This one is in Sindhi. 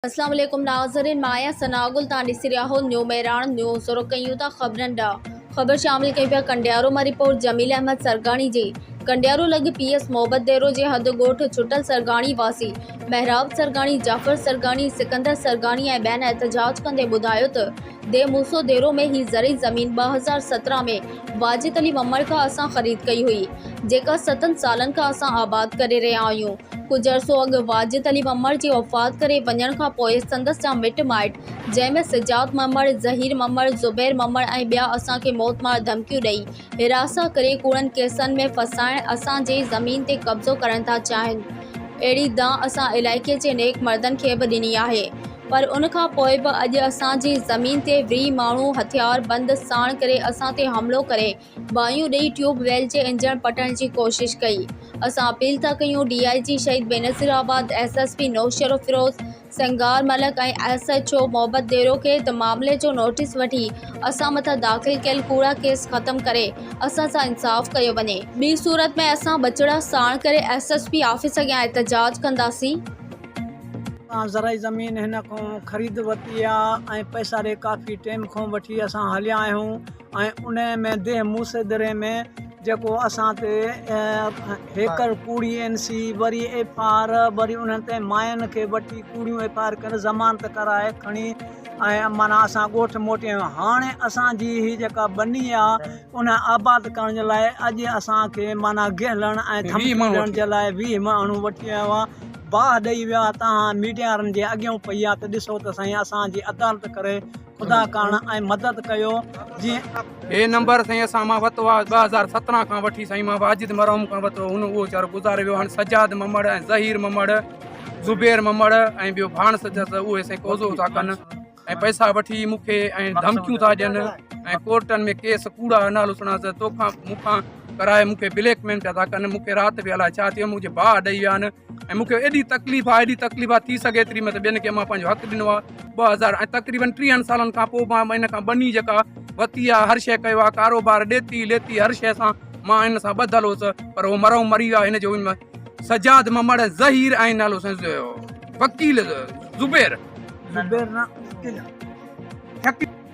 اسلام عليڪم ناظرين مان آهيان ثناء گل توهان ڏسي رهيا آهو نيو مهراڻ نيوز شروع ڪيون ٿا خبرن ڏانهن خبر شامل ڪيون پيا ڪنڊيارو مان رپورٽ جميل احمد سرگاڻي جي ڪنڊيارو لڳ پي ايس محبت ديرو جي هنڌ ڳوٺ ڇٽل سرگاڻي واسي محراب سرگاڻي جعفر سرگاڻي سڪندر سرگاڻي ۽ ٻين احتجاج ڪندي ٻڌايو ته دي موسو ديرو ۾ هي زرعي زمين ٻه هزار سترهن ۾ واجد علي ومڙ کان اسان خريد ڪئي هئي جيڪا ستن سالن کان اسان آباد ڪري رهيا آهيون ڪجهه عرصو اڳ واجد علي ومڙ جي وفات ڪري وڃڻ کان پوء سندس جا مٽ مائٽ جنهن ۾ سجاد ومڙ ظهير ومڙ زبير ومڙ ۽ ٻيا اسان کي موت مار ڌمڪيون ڏئي هراسان ڪري ڪوڙن ڪيسن ۾ ڦاسائڻ اسان جي زمين تي قبضو ڪرڻ ٿا چاهين اهڙي دانهن اسان علائقي جي نيڪ مردن کي به ڏني آهي پر ان کان پوء به اڄ اسان جي زمين تي وري ماڻهو هٿيار بند ساڻ ڪري اسان تي حملو ڪري باهيون ڏئي ٽيوب ويل جي انجڻ پٽڻ جي ڪوشش ڪئي اسان اپيل ٿا ڪيون D I G Shaheed Benazirabad S S P Naushahro Feroze Singar Malik ۽ S H O Mohabbat Dero کي ته معاملي جو نوٽيس وٺي اسان مٿان داخل ڪيل ڪوڙا ڪيس ختم ڪري اسان سان انصاف ڪيو وڃي ٻي صورت ۾ اسان ٻچڙا ساڻ ڪري ايس ايس پي آفيس اڳيان احتجاج ڪنداسين. اسان زرعي زمين هن کان خريد ورتي آ ۽ پئساري ڪافي ٽيم کان وٺي اسان هليا آهيون ۽ انهي ۾ ديهه موسي دري ۾ جيڪو اسان تي هيڪر ڪوڙي اين سي وري ايف آر وري انهن تي ماين کي وٺي ڪوڙيون ايف آر ڪري ضمانت ڪرائي کڻي ۽ معنيٰ اسان ڳوٺ موٽي آيون هاڻي اسان جي هي جيڪا ٻني آ ان آباد ڪرڻ جي لاء اڄ اسان کي معنيٰ گهلڻ ۽ ڌمڪي ڏيڻ جي لاء ويهه ماڻهو وٺي آيو آ باهه ڏئي ويا توهان ميڊيا وارن جي اڳيون پيا ته ڏسو ته سائين اسان جي عدالت ڪري خدا ڪاڻ ۽ مدد ڪيو جي هي نمبر سائين اسان مان وتو آ 2017 کان وٺي سائين مان واجد مرحوم کان وتو هن اهو چار گذاري ويو هن سجاد ممڙ ۽ ظهير ممڙ زبير ممڙ ۽ ٻيو ڀاڻس جس اهي سائين قوضو ٿا ڪن ۽ پئسا وٺي مون کي ۽ ڌمڪيون ٿا ڏين ۽ ڪورٽن ۾ ڪيس ڪوڙا نالو سڻان ته توکان مون کان ڪرائي مون کي بليڪ ميل پيا ٿا ڪن مون کي رات به الاء ڇا ٿيو مونکي باهه ڏئي ويا آهن ۽ مون کي ايڏي تڪليف آهي ايڏي تڪليف آهي ٿي سگهي ايتري مت ٻين کي مان پنهنجو حق ڏنو آهي ٻه هزار ۽ تقريبن ٽيهن سالن کان پوء مان ان کان ٻني جيڪا وتي آهي هر شيء ڪيو آهي ڪاروبار ڏيتي ليتي هر شيء سان مان ان سان ٻڌل هوس پر هو مرو مري ويا هن جو سجاد ممڙ ظهير ۽ نالو وڪيل زبير زبير نه